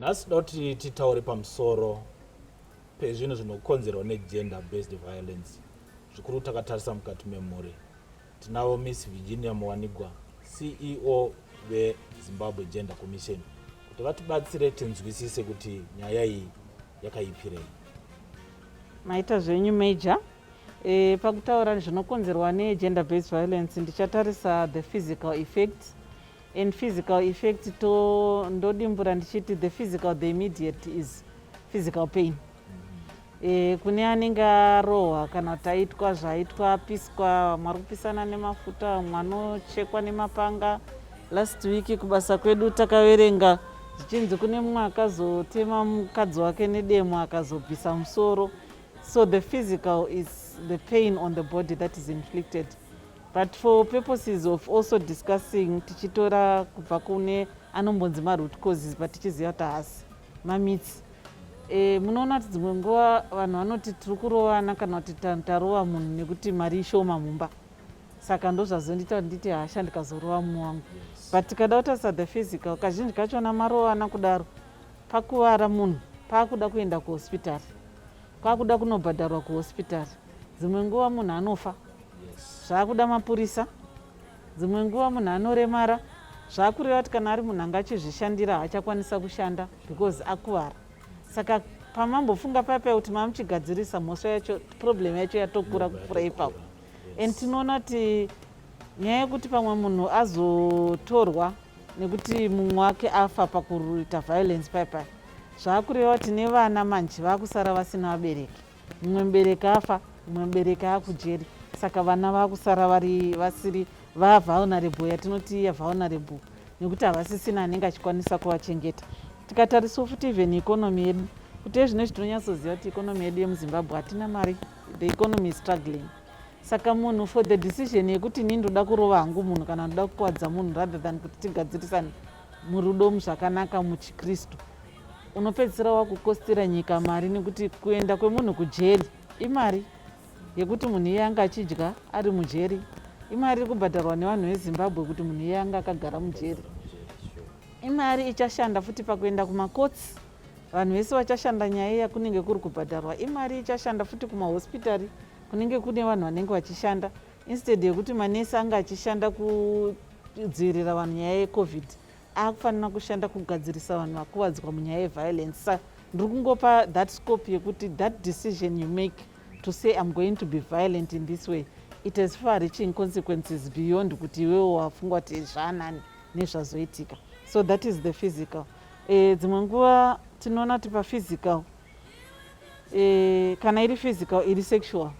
nhasi tinoda kuti titaure pamusoro pezvinhu zvinokonzerwa negender based violence zvikuru takatarisa mukati memhuri tinavo miss virginia muwanigwa ceo vezimbabwe gender commission kuti vatibatsire tinzwisise kuti nyaya iyi yakaipirei maita zvenyu major e, pakutaura zvinokonzerwa negender based violence ndichatarisa the physical effects and physical effect to ndodimbura ndichiti the physical the immediate is physical pain e, kune anenge arohwa kana kuti aitwa zvaitwa apiswa vamwe ari kupisana nemafuta vamwe anochekwa nemapanga last week kubasa kwedu takaverenga zvichinzi kune mumwe akazotema mukadzi wake nedemo akazobvisa musoro so the physical is the pain on the body that is inflicted but for purposes of also discussing tichitora kubva kune anombonzi maroot causes but tichiziva kuti haasi mamitsi e, munoona kuti dzimwe nguva vanhu vanoti tiri kurovana kana kuti tarova munhu nekuti mari ishoma mumba saka ndozvazondiita kuti nditi hasha ndikazorova munhu wangu but tikada kutarisa the physical kazhinji kachona marovana kudaro pakuvara munhu paakuda kuenda kuhospitari kwaakuda kunobhadharwa kuhospitari dzimwe nguva munhu anofa zvaakuda mapurisa dzimwe nguva munhu anoremara zvaakureva kuti kana ari munhu anga achizvishandira haachakwanisa kushanda because akuvara saka pamambofunga payapaya kuti mamuchigadzirisa mhosva yacho problem yacho yatokura kupfura ipapo and tinoona kuti nyaya yekuti pamwe munhu azotorwa nekuti mumwe wake afa pakuita violence payapaya zvaakureva kuti nevana manje vaakusara vasina vabereki mumwe mubereki afa mumwe mubereki akujeri saka vana vakusara vari vasiri vavulnerable yatinoti iya vulnerable nekuti havasisina anenge achikwanisa kuvachengeta tikatarisa futi even economy yedu kuti ezvino zvitinonyatsoziva kuti economy yedu yemuzimbabwe hatina mari the economy is struggling saka munhu for the decision yekuti ini ndoda kurova hangu munhu kana ndoda kukwadza munhu rather than kuti tigadzirisane murudo muzvakanaka muchikristu unopedzisira wakukostira nyika mari nekuti kuenda kwemunhu kujeri imari yekuti munhu iye anga achidya ari mujeri imari iri kubhadharwa nevanhu vezimbabwe kuti munhu iye anga akagara mujeri imari ichashanda futi pakuenda kumakotsi vanhu vese vachashanda nyaya iya kunenge kuri kubhadharwa imari ichashanda futi kumahospitari kunenge kune vanhu vanenge vachishanda instead yekuti manesi anga achishanda kudzivirira vanhu nyaya yecovid akufanira kushanda kugadzirisa vanhu vakuvadzwa munyaya yeviolence sa ndiri kungopa that scope yekuti that decision you make to say im going to be violent in this way it has far reaching consequences beyond kuti iwewo wafunga kuti zvaanani nezvazoitika so that is the physical e, dzimwe nguva tinoona kuti paphysical e, kana iri physical iri sexual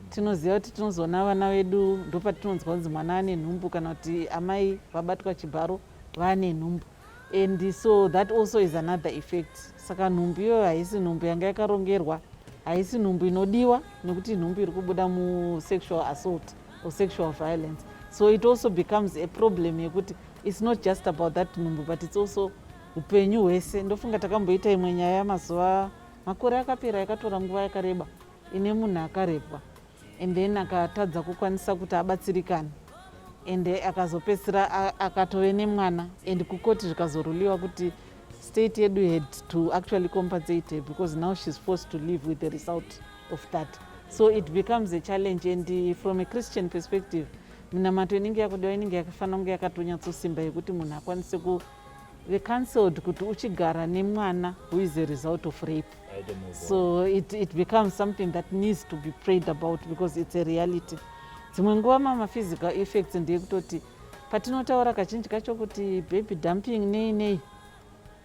tinoziva kuti tinozoona vana vedu ndopatinonzwa kunzi mwana ane nhumbu kana kuti amai vabatwa chibharo vane nhumbu and so that also is another effect saka nhumbu iyoyo haisi nhumbu yanga yakarongerwa haisi nhumbu inodiwa nekuti nhumbu iri kubuda musexual assault or sexual violence so it also becomes a problem yekuti its not just about that nhumbu but its also upenyu hwese ndofunga takamboita imwe nyaya yamazuva makore akapera yakatora nguva yakareba ine munhu akarepwa and then akatadza kukwanisa kuti abatsirikane and akazopedzisira akatove nemwana and kukoti zvikazoruliwa kuti state yedu had to actually compensate her because now she's forced to live with the result of that so it becomes a challenge and uh, from a christian perspective minamato inenge yakudiwa inenge yakafanira kunge yakatonyatsosimba yekuti munhu akwanise kuve cancelled kuti uchigara nemwana who is a result of rape so it, it becomes something that needs to be prayed about because it's a reality dzimwe nguva mama physical effects ndeye kutoti patinotaura kazhinji kacho kuti baby dumping nei nei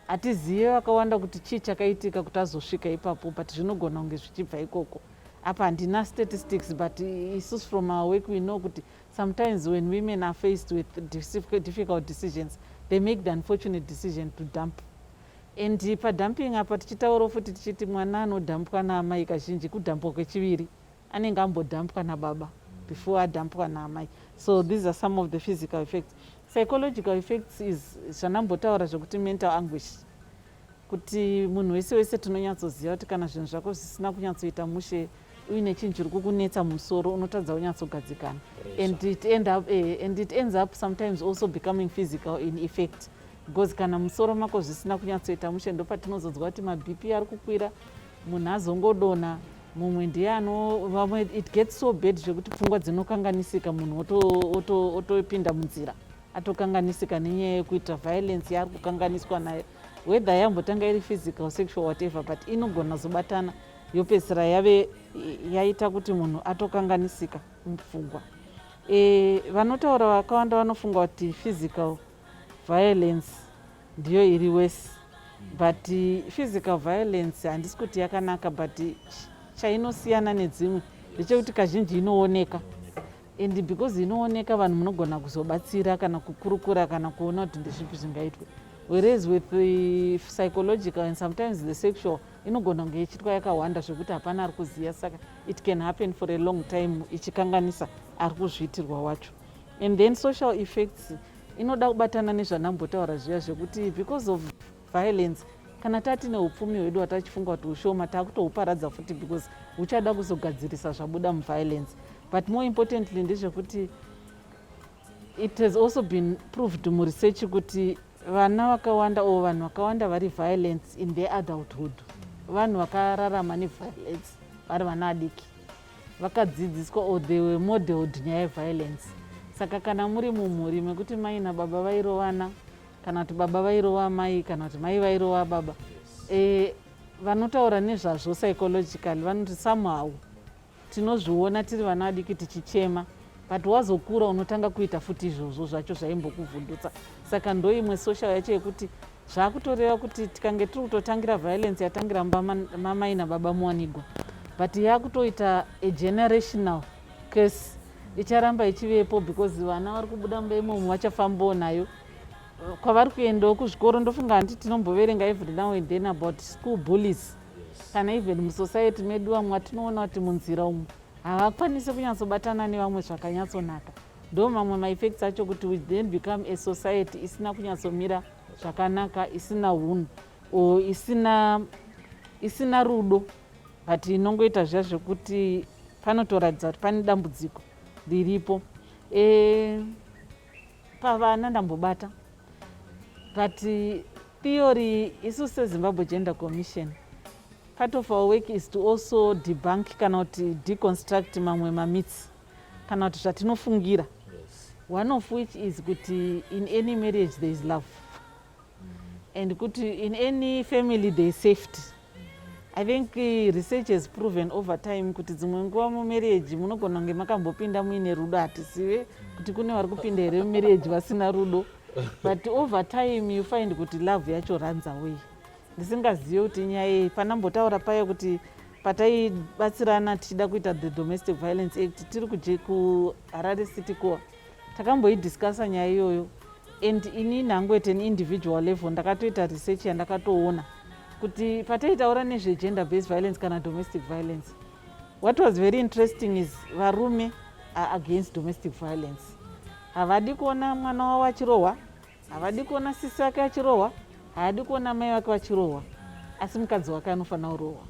hatizive vakawanda kuti chii chakaitika kuti azosvika ipapo but zvinogona kunge zvichibva ikoko apa handina statistics but isus from our work we know kuti sometimes when women are faced with difficult decisions they make the unfortunate decision to dump and padumping apa tichitaurawo futi tichiti mwana anodhampwa naamai kazhinji kudhampwa kwechiviri anenge ambodhampwa nababa before adhampwa naamai so these are some of the physical effects psychological effects is zvanambotaura zvekuti mental anguish kuti munhu wese wese tinonyatsoziva kuti kana zvinhu zvako zvisina kunyatsoita mushe uine chinhu chiri kukunetsa musoro unotadza unyatsogadzikana and it, end up, eh, and it ends up sometimes also becoming physical in effect because kana musoro mako zvisina kunyatsoita mushe ndopatinozodzwa kuti mabp ari kukwira munhu azongodona mumwe ndiye anovamwe it gets so bad zvekuti pfungwa dzinokanganisika munhu otopinda munzira atokanganisika nenyaya yekuita violence yaari kukanganiswa nayo whether yambotanga iri physical sexual whatever but inogona zobatana yopedzisira yave yaita kuti munhu atokanganisika mupfugwa e, vanotaura vakawanda vanofunga kuti physical violence ndiyo iri wese but physical violence handisi kuti yakanaka but chainosiyana nedzimwe ndechekuti kazhinji inooneka and because inooneka vanhu munogona kuzobatsira kana kukurukura kana kuona kuti ndezvipi zvingaitwe whereas with the psychological and sometimes the sexual inogona kunge ichiitwa yakawanda zvekuti hapana ari kuziva saka it can happen for a long time ichikanganisa ari kuzviitirwa wacho and then social effects inoda kubatana nezvandambotaura zviya zvekuti because of violence kana tati neupfumi hwedu watachifunga kuti ushoma takutohuparadza futi because huchada kuzogadzirisa zvabuda muviolence but more importantly ndezvekuti It has also been proved muresearch kuti vana vakawanda or vanhu vakawanda vari violence in their adulthood vanhu vakararama neviolence vari vana adiki vakadzidziswa or they were modeled nyaya yeviolence saka kana muri mumhuri mekuti mai nababa vairovana kana kuti baba vairova mai kana kuti mai vairova baba e, vanotaura nezvazvo psychologically vanoti somehow tinozviona tiri vana vadiki tichichema but wazokura unotanga kuita futi izvozvo zvacho zvaimbokuvhundutsa saka ndoimwe social yacho yekuti zvakutoreva kuti tikange tiri kutotangira violence yatangira mamai nababa muwanigwa but yakutoita a generational case icharamba ichivepo because vana vari kubuda mumba imomo vachafambawo nayo kwavari kuendawo kuzvikoro ndofunga handiti tinomboverenga every now and then about school bullies kana even musociety medu vamwe vatinoona kuti munzira umu havakwanise kunyatsobatana nevamwe zvakanyatsonaka ndo mamwe maeffects acho kuti we then become a society isina kunyatsomira zvakanaka isina hunhu or isina isina rudo but inongoita zviya zvekuti panotoratidza kuti pane dambudziko riripo e, pavana ndambobata but theory isu sezimbabwe gender commission part of our work is to also debunk kana kuti deconstruct mamwe mamitsi kana kuti zvatinofungira one of which is kuti in any marriage there is love and kuti in any family there is safety i think eh, research has proven over time kuti dzimwe nguva mumarriage munogona kunge makambopinda muine rudo hatizive kuti kune vari kupinda here mumarriage vasina rudo but over time you find kuti love yacho runs away ndisingazive kuti nyaya yei pana mbotaura paye kuti pataibatsirana tichida kuita the domestic violence act tiri kuharare city core takamboidiscassa nyaya iyoyo and ini nhangu at an individual level ndakatoita research yandakatoona kuti pataitaura nezvegender based violence kana domestic violence what was very interesting is varume are against domestic violence havadi kuona mwana wavo achirohwa havadi kuona sisi vake vachirohwa haadi kuona mai vake vachirohwa asi mukadzi wake anofanira kurohwa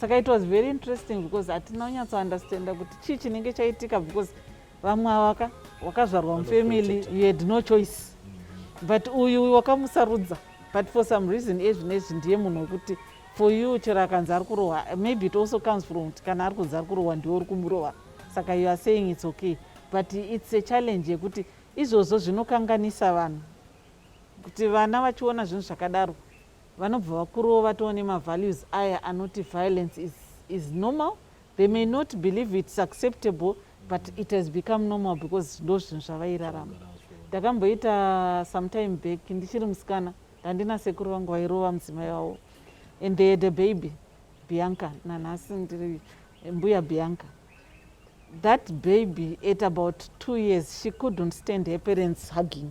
saka it was very interesting because hatina kunyatsoundestanda kuti chii chinenge chaitika because vamwe ava ka wakazvarwa mufamily you had no choice but uyu wakamusarudza but for some reason ezvi nezvi ndiye munhu wekuti for you chero akanzi ari kurohwa maybe it also comes from kuti kana ari kunzi ari kurohwa ndiwe uri kumurohwa saka you are saying its okay but its a challenge yekuti izvozvo zvinokanganisa vanhu kuti vana vachiona zvinhu zvakadaro vanobva vakurova too nemavalues aya anoti violence is, is normal They may not believe it's acceptable but it has become normal because ndo zvinhu zvavairarama. Ndakamboita sometime back ndichiri musikana ndandina sekuru vangu vairova mudzimai wavo and they had a baby Bianca nanhasi ndiri mbuya Bianca. That baby at about two years she couldn't stand her parents hugging.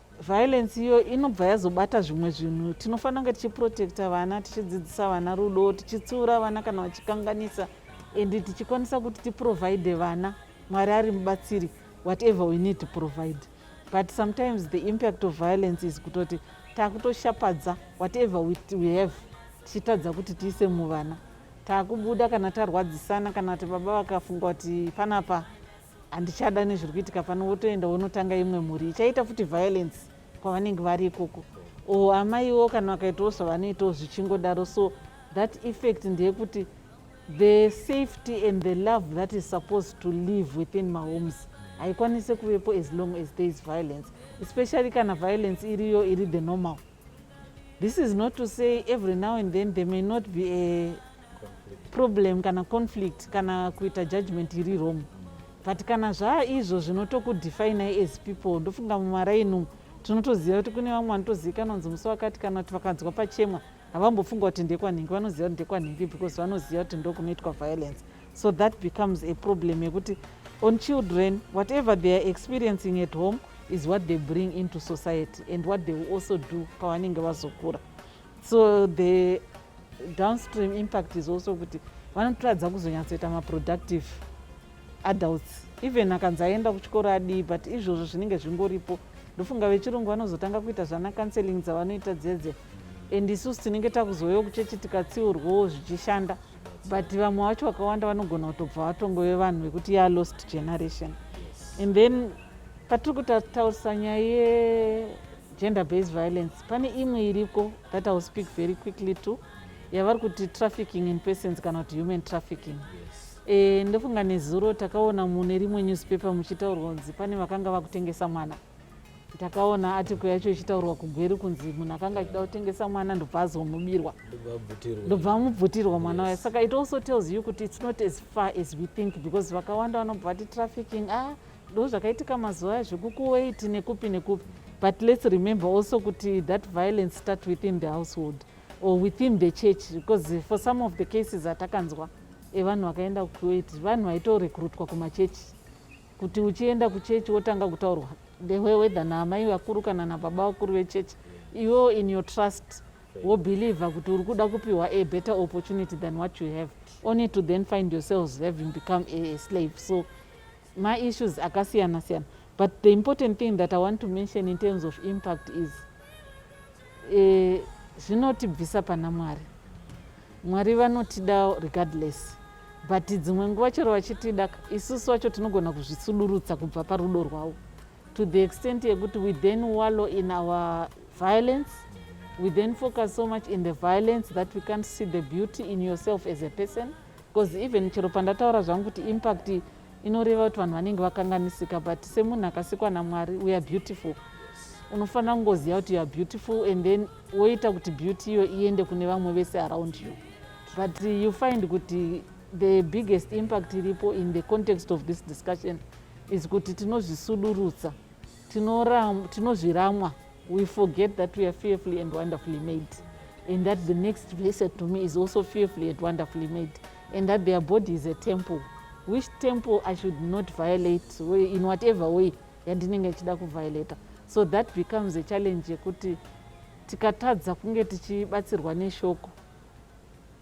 violence iyo inobva yazobata zvimwe zvinhu tinofanira kunge tichiprotecta vana tichidzidzisa vana rudo tichitsiura vana kana vachikanganisa and tichikwanisa kuti tiprovide vana mwari ari mubatsiri whatever we need to provide but sometimes the impact of violence is kutoti taakutoshapadza whatever we, we have tichitadza kuti tiise muvana taakubuda kana tarwadzisana kana kuti baba vakafunga kuti panapa handichada nezviri kuitika pano wotoenda wonotanga imwe mhuri ichaita futi violence kwavanenge vari ikoko o amaiwo kana vakaitawo zvavanoitawo zvichingodaro so that effect ndeyekuti the safety and the love that is supposed to live within mahomes haikwanise kuvepo as long as there is violence especially kana violence iriyo iri the normal This is not to say every now and then there may not be a problem kana conflict kana kuita judgment iri wrong but kana zvaa izvo zvinotokudefinai as people ndofunga mumaraini umu tinotoziva kuti kune vamwe vanotozivikanwa kunzi musi wakati kana kuti vakanzwa pachemwa havambofunga kuti ndekwanhingi vanoziva kuti ndekwanhingi because vanoziva kuti ndokunoitwa violence so that becomes a problem yekuti on children whatever they are experiencing at home is what they bring into society and what they will also do pavanenge vazokura so the downstream impact is also kuti vanotoradza kuzonyatsoita maproductive adults even akanzi aenda kuchikoro adii but izvozvo zvinenge zvingoripo ndofunga vechirungu vanozotanga kuita zvana counseling dzavanoita dzedze and isusu tinenge takuzovewo kuchechi tikatsiurwawo zvichishanda but vamwe vacho vakawanda vanogona kutobva vatongove vanhu vekuti ya lost generation and then patiri kutataurisa nyaya yegender based violence pane imwe iriko that ill speak very quickly to yavari kuti trafficking in persons kana kuti human trafficking e, ndofunga nezuro takaona mune rimwe newspaper muchitaurwa kunzi pane vakanga vakutengesa mwana ndakaona atiko yacho ichitaurwa kugweri kunzi munhu akanga achida kutengesa mwana ndobva azomubirwa ndobva amubvutirwa mwana waye saka it also tells you kuti its not as far as we think because vakawanda vanobva vati trafficking a ah, ndo zvakaitika mazuva aya zvekukuwait nekupi nekupi but let's remember also kuti that violence start within the household or within the church because for some of the cases atakanzwa evanhu vakaenda kukuwait vanhu vaitorekrutwa kumachechi kuti uchienda kuchechi wotanga kutaurwa ndehwewedha naamai vakuru kana nababa vakuru vechechi iwewo in your trust wobhilivha kuti uri kuda kupiwa a better opportunity than what you have only to then find yourselves having become a slave so maissues akasiyana siyana but the important thing that i want to mention in terms of impact is eh, zvinotibvisa pana mwari Mwari vanotida regardless but dzimwe nguva chero vachitida isusu vacho tinogona kuzvisudurutsa kubva parudo rwavo to the extent yekuti we then wallow in our violence we then focus so much in the violence that we can't see the beauty in yourself as a person because even chero pandataura zvangu kuti impact inoreva kuti vanhu vanenge vakanganisika but semunhu akasikwa namwari weare beautiful unofanira kungoziva kuti youare beautiful and then woita kuti beauty iyo iende kune vamwe vese around you but you find kuti the biggest impact iripo in the context of this discussion is kuti tinozvisudurutsa tinozviramwa we forget that we are fearfully and wonderfully made and that the next blessed to me is also fearfully and wonderfully made and that their body is a temple which temple i should not violate in whatever way yandinenge ndichida kuviolata so that becomes a challenge yekuti tikatadza kunge tichibatsirwa neshoko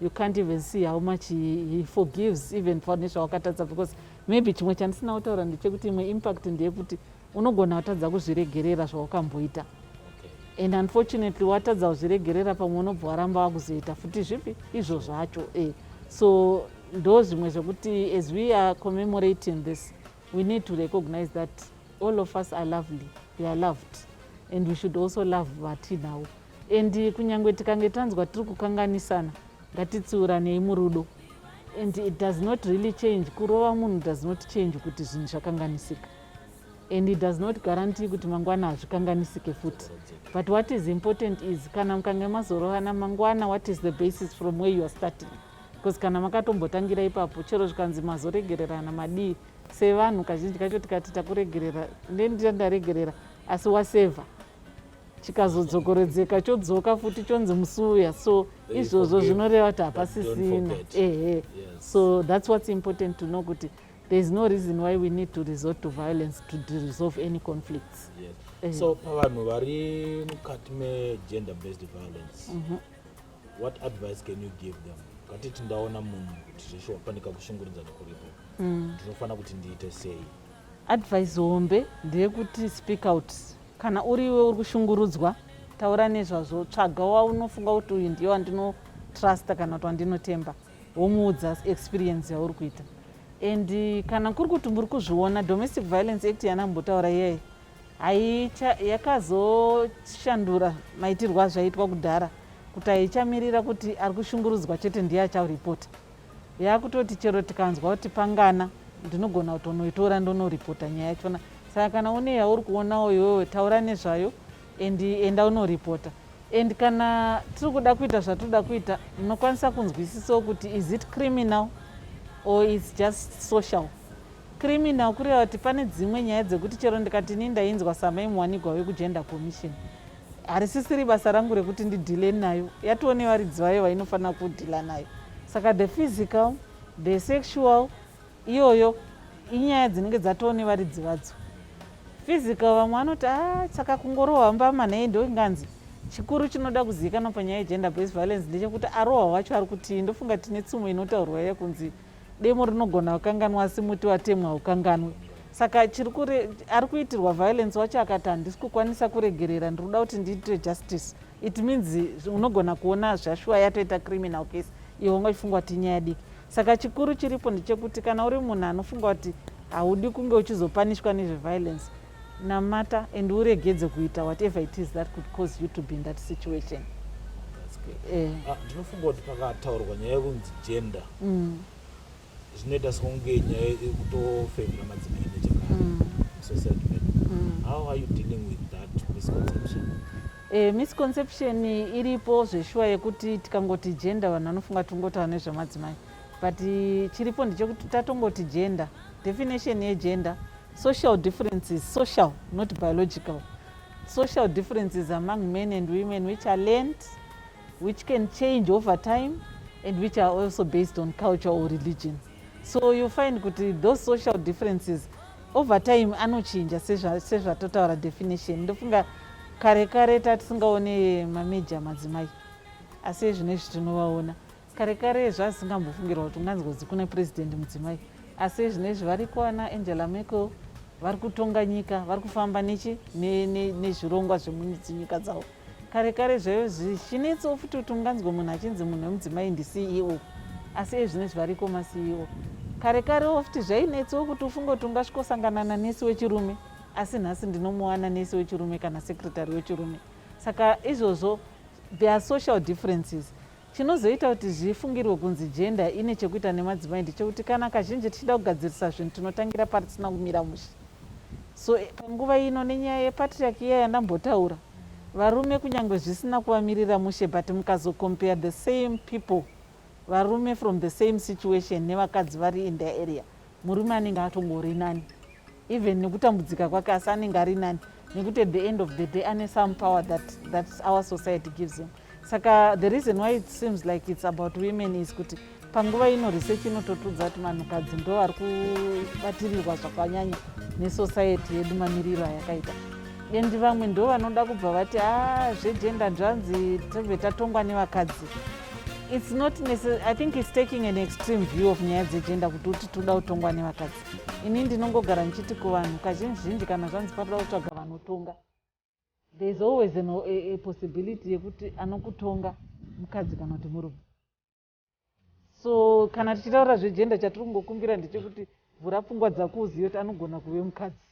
you can't even see how much he, he forgives even pane zvawakatadza because maybe chimwe chandisina kutaura ndechekuti imwe impact ndeyekuti unogona watadza kuzviregerera zvawakamboita and unfortunately watadza kuzviregerera pamwe unobva waramba wakuzoita futi zvipi izvo zvacho e so ndo zvimwe zvekuti as we are commemorating this we need to recognize that all of us are lovely we are loved and we should also love vatinavo and kunyange tikange tanzwa tiri kukanganisana ngatitsiuranei murudo and it does not really change kurova munhu does not change kuti zvinhu zvakanganisika and it does not guarantee kuti mangwana hazvikanganisike futi but what is important is kana mukange mazorovana mangwana what is the basis from where youare starting because kana makatombotangira ipapo chero zvikanzi mazoregererana madii sevanhu kazhinji kacho tikati takuregerera ndenditandaregerera asi waseva chikazodzokorodzeka chodzoka futi chonzi musi uya so izvozvo zvinoreva kuti hapasisina ehe so thats whats important to know kuti there is no reason why we need to resort to violence to resolve any conflicts yes. so pavanhu vari mukati megender based violence mm -hmm. what advice can you give them katiti ndaona munhu kuti zveshuwa panika kushungurudzana kuripo mm. ndinofanira mm. kuti ndiite sei Advice hombe ndeyekuti speak out. Kana uri iwe uri kushungurudzwa, taura nezvazvo. Tsvaga waunofunga kuti uyu ndiye wandinotrusta kana kuti wandinotemba, womuudza experience yauri kuita. And kana kuri kuti muri kuzviona Domestic Violence Act yanambotaura iyayi yakazoshandura maitirwo azvaitwa kudhara kuti haichamirira kuti ari kushungurudzwa chete ndiye achauripota. yakutoti chero tikanzwa kuti pangana ndinogona kutonoitora ndonoripota nyaya yachona saka kana une yauri kuonawo iwewe taura nezvayo and enda unoripota and kana tiri kuda kuita zvatinoda kuita munokwanisa kunzwisisawo kuti is it criminal or is just social criminal kureva kuti pane dzimwe nyaya dzekuti chero ndikati ini ndainzwa samai muwanigwa wekugender commission harisisiri basa rangu rekuti ndidhile nayo yatoo nevaridzi vayo vainofanira kudhila nayo saka the physical the sexual iyoyo inyaya dzinenge dzatoo nevaridzi vadzo physical vamwe vanoti a ah, saka kungorohwa mbama nei ndoinganzi chikuru chinoda kuzivikanwa panyaya yegender based violence ndechekuti arohwa wacho ari kutii ndofunga tine tsumo inotaurwa yekunzi demo rinogona kukanganwa asi muti watemwa haukanganwi saka chiri kure ari kuitirwa violence wacho akati handisi kukwanisa kuregerera ndiri kuda kuti ndiitire justice it means unogona kuona zvashuwa yatoita criminal case iwe unga uchifungwa kuti inyaya diki saka chikuru chiripo ndechekuti kana uri munhu anofunga kuti haudi kunge uchizopanishwa nezveviolence Namata and uregedze kuita whatever it is that could cause you to be in that situation. Eh. Ah, ndinofunga kuti pakataurwa nyaya yekunzi gender mm. zvinoita sekunge nyaya yekutofevera madzimai nechekare mm. society medu mm. how are you dealing with that misconception Eh, misconception iripo zveshuwa yekuti tikangoti gender vanhu vanofunga tingotaura nezvemadzimai but chiripo ndechekuti tatongoti gender definition yegender Social difference is social, not biological. Social differences among men and women which are learned, which can change over time, and which are also based on culture or religion. So you find kuti those social differences over time anochinja sezvatotaura definition. Ndofunga kare kare tatisingaone mameja madzimai, asi ezvino izvi tinovaona. kare kare zvazingambofungirwa kuti unganzwa kuti kuna president mudzimai asi zvine izvi vari kuwana angela merkel vari kutonga nyika vari kufamba nechi nezvirongwa zvemunyika dzavo kare kare zvaive zvichinetso futi kuti unganzwa munhu achinzi munhu wemudzimai ndiceo asi ezvino izvi variko maceo kare karewo futi zvainetsewo kuti ufunge kuti ungasvikosanganana nesi wechirume asi nhasi ndinomuwana nesi wechirume kana secretary wechirume saka izvozvo there are social differences Chinozoita kuti zvifungirwe kunzi jenda ine chekuita nemadzimai ndechekuti kana kazhinji tichida kugadzirisa zvinhu tinotangira pari tisina kumira mushe. So eh, panguva ino nenyaya yepatriaki iya yandambotaura, varume kunyange zvisina kuvamirira mushe but mukazocompare the same people varume from the same situation nevakadzi vari in their area, murume anenge atongori nani. even nekutambudzika kwake asi anenge ari nani nekuti at the end of the day ane some power that, that our society gives him saka the reason why it seems like it's about women is kuti panguva ino research inototudza kuti vanhukadzi ndo vari kubatirirwa zvakanyanya nesociety yedu mamiriro ayakaita endi vamwe ndo vanoda kubva vati a ah, zvegenda nzvanzi tobve tatongwa nevakadzi its not i think its taking an extreme view of nyaya dzegenda kuti uti toda kutongwa nevakadzi ini ndinongogara ndichiti kuvanhu kazhinji zhinji kana zvanzi panoda kutsvaga vanotonga there is always an, a, a possibility yekuti anokutonga mukadzi kana kuti murume so kana tichitaura zvegender chatiri kungokumbira ndechekuti vhura pfungwa dzako uzive kuti anogona kuve mukadzi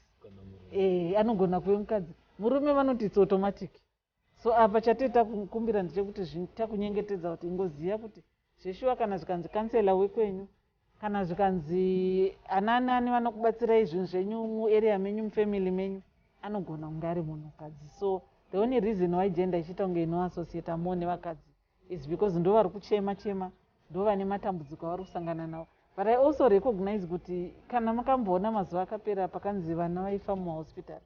e, anogona kuve mukadzi murume vanoti its automatic So apa chatee takukumbira ndechekuti zvinhu takunyengetedza kuti ingoziva kuti zveshuwa kana zvikanzi councilor wekwenyu kana zvikanzi anani ani vanokubatsirai zvinhu zvenyu muarea menyu mufamily menyu anogona kunge ari munhukadzi so the only reason why gender ichiita kunge inoassociata more nevakadzi is because ndo vari kuchema chema ndo vane matambudziko avari kusangana nawo but i also recognize kuti kana makamboona mazuva akapera pakanzi vana vaifa mumahospitari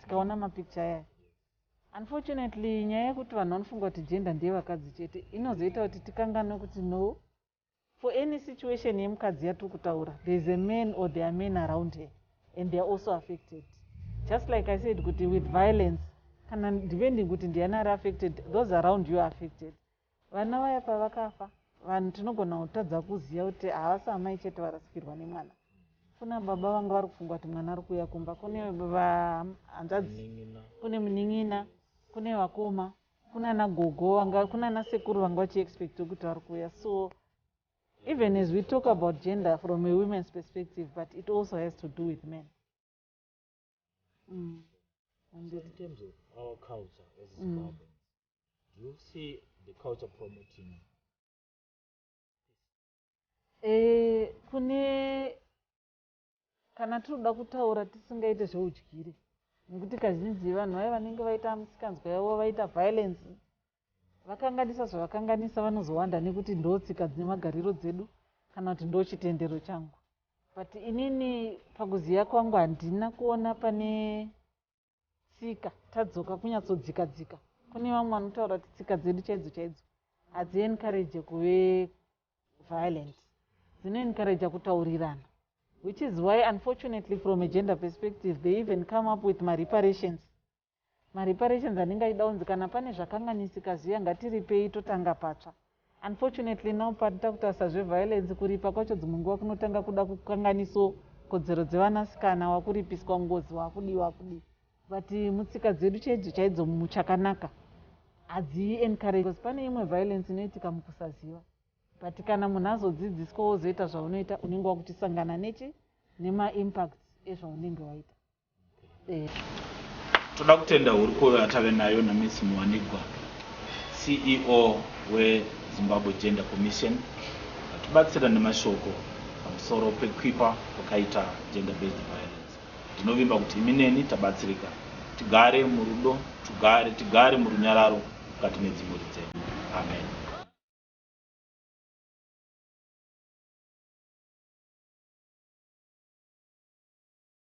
tikaona ma picture aya. Unfortunately nyaya yekuti vanhu vanofunga kuti gender ndeye vakadzi chete inozoita kuti tikanganwe kuti no for any situation yemukadzi yatiri kutaura there is a man or there are men around her and they are also affected just like i said kuti with violence kana depending kuti ndiani ari affected those around you are affected Vana vaya pavakafa vanhu tinogona kutadza kuziva kuti havasi amai chete varasikirwa nemwana. Kuna baba vanga vari kufunga kuti mwana ari kuuya kumba. Kune hanzvadzi, kune munin'ina, kune vakoma, kunana gogo, vanga kunana sekuru vanga vachiexpectwa kuti vari kuuya. So even as we talk about gender from a women's perspective but it also has to do with men. Mm. So in terms of our culture as mm. Zimbabweans, mm. do you see the culture promoting? Eh, kune kana tinoda kutaura tisingaite zveudyire nekuti kazhinji vanhu vaye vanenge vaita misikanzwa yavo vaita violence Vakanganisa zvavakanganisa vanozowanda nekuti ndotsika nemagariro dzedu kana kuti ndochitendero changu but inini pakuziva kwangu handina kuona pane tsika tadzoka kunyatsodzika dzika kune vamwe vanotaura kuti tsika dzedu chaidzo chaidzo hadziencourage kuve violent dzinoencourage kutaurirana which is why unfortunately from a gender perspective they even come up with mareparations Ma reparations anenge achida kunzi kana pane zvakanganisika zviya ngatiripei totanga patsva. Unfortunately now pari takutasa zve violence kuripa kwacho dzimwe nguva kunotanga kuda kukanganiso kodzero dzevanasikana wakuripiswa ngozi wakudii wakudii but mutsika dzedu chaidzo chaidzo muchakanaka hadzi encourage because pane imwe violence inoitika mukusaziva but kana munhu azodzidziswa wozoita zvaunoita unenge wakutisangana nechi nema impacts ezvaunenge waita. Toda kutenda hurukuro yatave nayo naMiss Muwanigwa, CEO weZimbabwe Gender Commission, vatibatsira nemashoko pamusoro pekuipa kwakaita gender based violence. Ndinovimba kuti imi neni tabatsirika. Tigare murudo, tugare, tigare murunyararo mukati medzimhuri dzedu. Amen.